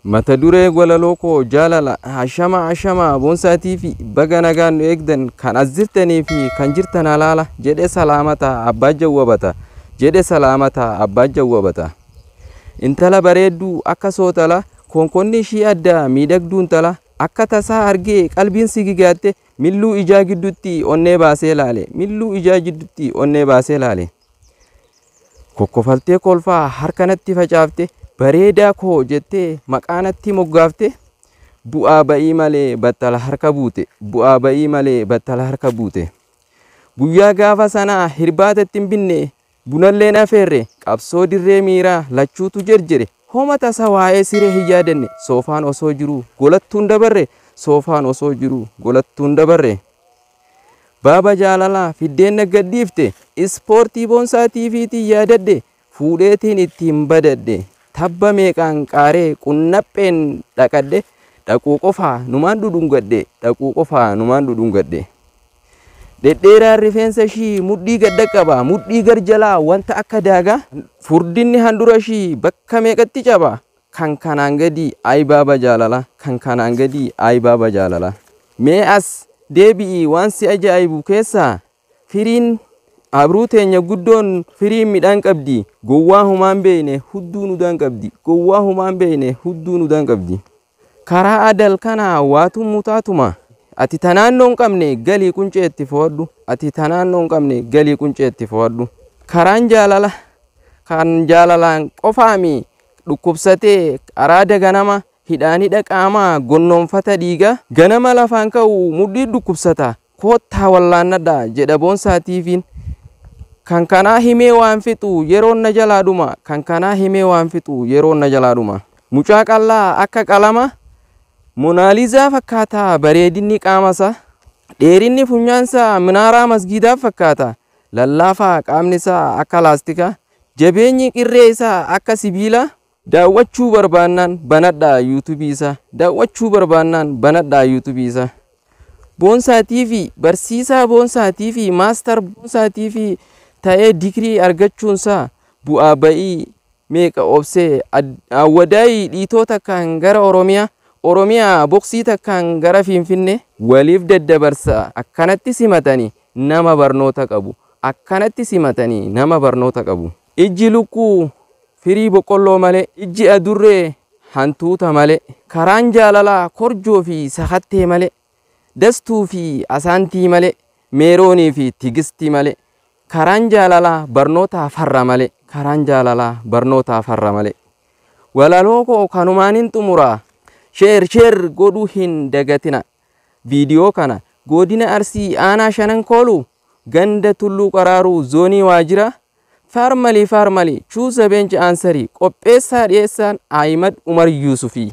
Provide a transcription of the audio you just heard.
Mata duree walaloo koo jaalala. Ashama ashama Boonsaa TV baga nagaan nu eegdan kan as jirtanii fi kan jirtan halaala jedhe salaamata abbaa jawwabata jedhe salaamata abbaa jawwabata. Intala bareedduu akka sootala konkonni ishii addaa miidhagduu intala akka tasaa argee qalbiin si gigaatte milluu ijaa gidduutti onnee baasee laale milluu ijaa gidduutti onnee baasee laale. Kokkofaltee kolfaa harka natti facaafte bareedaa koo jettee maqaa natti moggaafte bu'aa ba'ii malee battala harka buute bu'aa ba'ii malee battala harka buute guyyaa gaafa sanaa hirbaata ittiin binne bunalleen afeerre qabsoo dirree miiraa lachuutu jerjere homa tasa waa'ee siree hin yaadanne soofaan osoo jiruu golattuun dabarre soofaan osoo jiruu golattuun dabarre. Baaba jaalalaa fiddeen na gadhiifte Ispoortii boonsaa TV tiin yaadadhe Fuudheetiin ittiin badadhe Tabba meeqaan qaaree qunnapheen dhaqadhe Dhaquu qofaa numaan dhudhungadhe Dhaquu qofaa numaan dhudhungadhe Dhedheeraan rifeensa ishii mudhii gad dhaqqaba Mudhii gar jalaa wanta akka daagaa Furdinni handhura ishii bakka meeqatti caba Kan kanaan gadii Ayi baaba jaalalaa Kan kanaan gadii Ayi baaba jaalalaa Mee as deebi'ii waan si ajaa'ibu keessaa Firiin abruu teenya guddoon Firiin midhaan qabdi Gowwaa homaan beeyne hudduu nudaan qabdi Gowwaa homaan beeyne hudduu nudaan qabdi Karaa adal kanaa waa tummu taatuma Ati ta naannoo hin qabne galii quncee itti fohadhu Ati ta naannoo hin qabne galii quncee itti fohadhu Karaan jaalala kan jaalalaan qofaami dhukkubsatee araada ganama hidhaan hidha qaamaa gonnoomfata dhiiga ganama lafaan ka'u mudhii dhukkubsata koottaa wallaannadha jedha Boonsaa TVn kan kanaa himee waan fixu yeroon na jalaa dhuma kan kanaa himee waan fixu yeroon na jalaa dhuma mucaa qallaa akka qalama monaalizaa fakkaata bareedinni qaamasa dheerinni funyaansaa minaaraa masgiidaa fakkaata lallaafaa qaamnisaa akka laastikaa Jabeenyi irree isaa akka sibiilaa. Daawwachuu barbaannaan banadhaa YouTube isaa Daawwachuu barbaannaan banadhaa YouTube isaa Boonsaa TV Barsiisaa Boonsaa TV Maastar Boonsaa TV ta'ee digirii argachuun isaa bu'aa ba'ii meeqa obsee Awwadaayii dhiitoo takkaan gara Oromiyaa Oromiyaa boksii takkaan gara Finfinnee waliif daddabarsaa akkanatti simatanii nama barnoota qabu akkanatti simatanii nama barnoota qabu. Ijji lukkuu firii boqqolloo malee, ijji adurree hantuuta malee, karaan jaalalaa korjoo fi sakattee malee, dastuu fi asaantii malee, meeroonii fi tigisti malee, karaan jaalalaa barnootaa farra malee, karaan jaalalaa barnootaa farra malee. Walaloo koo kanumaanin xumura. Share share godhuu hin dagatina. Viidiyoo kana Goodina Arsii Aanaa Shanan Kooluu Ganda Tulluu Qaraaruu Zoonii Waajira Farmali Farmali Choose a Bench Answer Qopheessaa Dhiyeessaan Ahimad Umar Yuusufii.